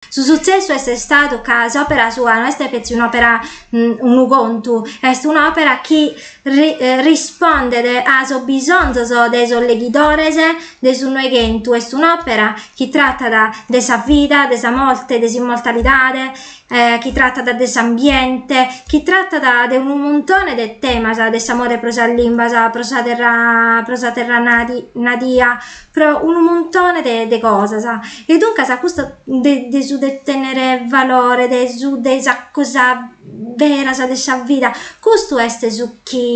Su sutzessu est istadu ca s'òpera sua no est petzi un'òpera, unu contu, est un'òpera chi rispondet a sos bisonzos de sos leghidores de su Noighentu, est un'òpera chi tratat de sa vida, de sa morte, de s'immortalidade, chi tratat de s'ambiente, chi tratat de unu muntone de temas, de s'amore pro sas limbas, pro sa terra, pro sa terra nadia, pro unu muntone de de cosas e duncas custu de de su de tennere valore de su de sa cosa beras de sa vida custu est su chi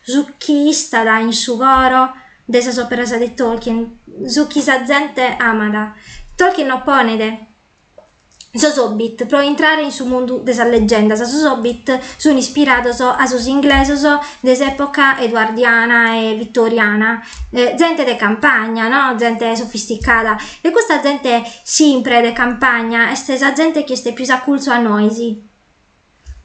su chi istat in su coro de sas operas de Tolkien su chi sa zente amat Tolkien no ponet Sos Hobbit, pro intrare in su mundu de sas legendas, sos Hobbit sun ispirados a sos inglesos de s'epoca eduardiana e vittoriana, zente de campagna no, zente sofisticada, e custa zente simpre de campagna est sa zente chi est pius a culzu a nois.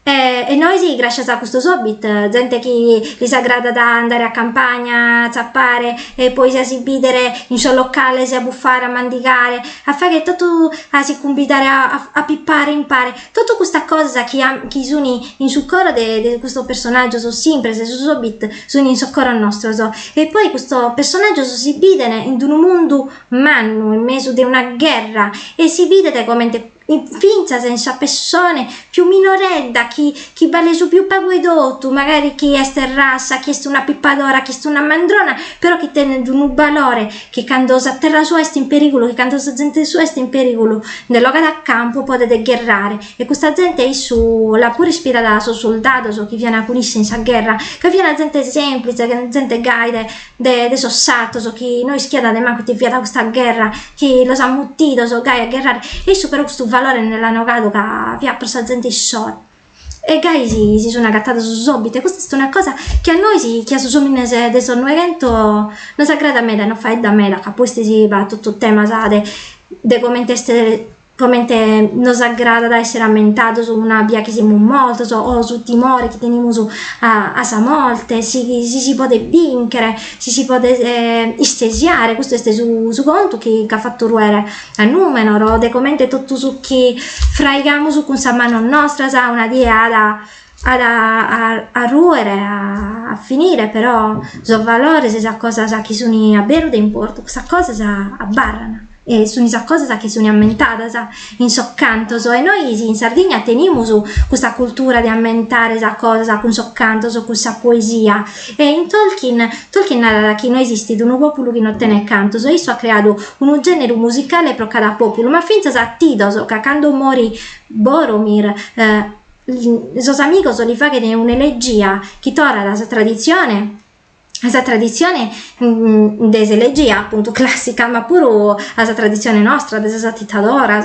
E e nois gràscias a custos hobbit, zente chi lis agradat andare a campagna, a tzapare e poi si a si bìdere in sos locales, a bufare, a mandigare, a fagher totu, a si cumbidare a a pipare impare, totu custas cosas chi an chi sun in su coro de de custos personàgios simpres, sos hobbit sun in sos coros nostros e poi custos personàgios si bìdene in unu mundu mannu, in mesu de una gherra e si bidet comente fintzas in sa pessone pius minoredda chi chi balet su pius pagu 'e totu, macari chi est rassa, chi est una pipadora, chi est una mandrona, però chi tenet unu balore chi cando sa terra sua est in perigulu, chi cando sa zente sua est in perigulu, nde bogat a campu podet gherrare e custa zente issu l'at puru ispirada a sos surdados chi fiana cun isse in sa gherra, ca fiana zente semplize, zente gaide de de sos sartos chi no ischiat de mancu ite fiat custa gherra chi los at mutidos gai a gherrare e issu però custu valore nde l'at bogadu ca fiat pro sa zente issoro e gai si si sun agatados sos obit e custa est una cosa chi a nois chi a sos omines de sos noighentos nos agradat meda e nos faeddat meda ca pustis b'at totu temas de de comente est comente nos agradat èssere ammentados una bia chi semus mortos o su timore chi tenimus a a sa morte, si si si podet bìnchere, si si podet istesiare, custu est su su contu chi ch'at fatu ruere a Nùmenor o de comente totu su chi fraigamus cun sas manos nostras una die at a at a a a ruere, a finire, però sos valores e sas cosas chi sun a beru de importu, cussas cosas abarran e sunt sas cosas chi sunt ammentadas in sos cantos e nois in Sardigna tenimus custa cultura de ammentare sas cosas cun sos cantos, cun sa poesia e in Tolkien, Tolkien narat chi no esistit unu pòpulu chi no tenet cantos e issu at creadu unu gèneru musicale pro cada pòpulu, ma fintzas atitidos ca cando morit Boromir sos amigos li faghen un'elegia chi torrat a sa traditzione a sa traditzione de s'elegia apuntu classica ma puru a sa traditzione nostra de sas atitadoras.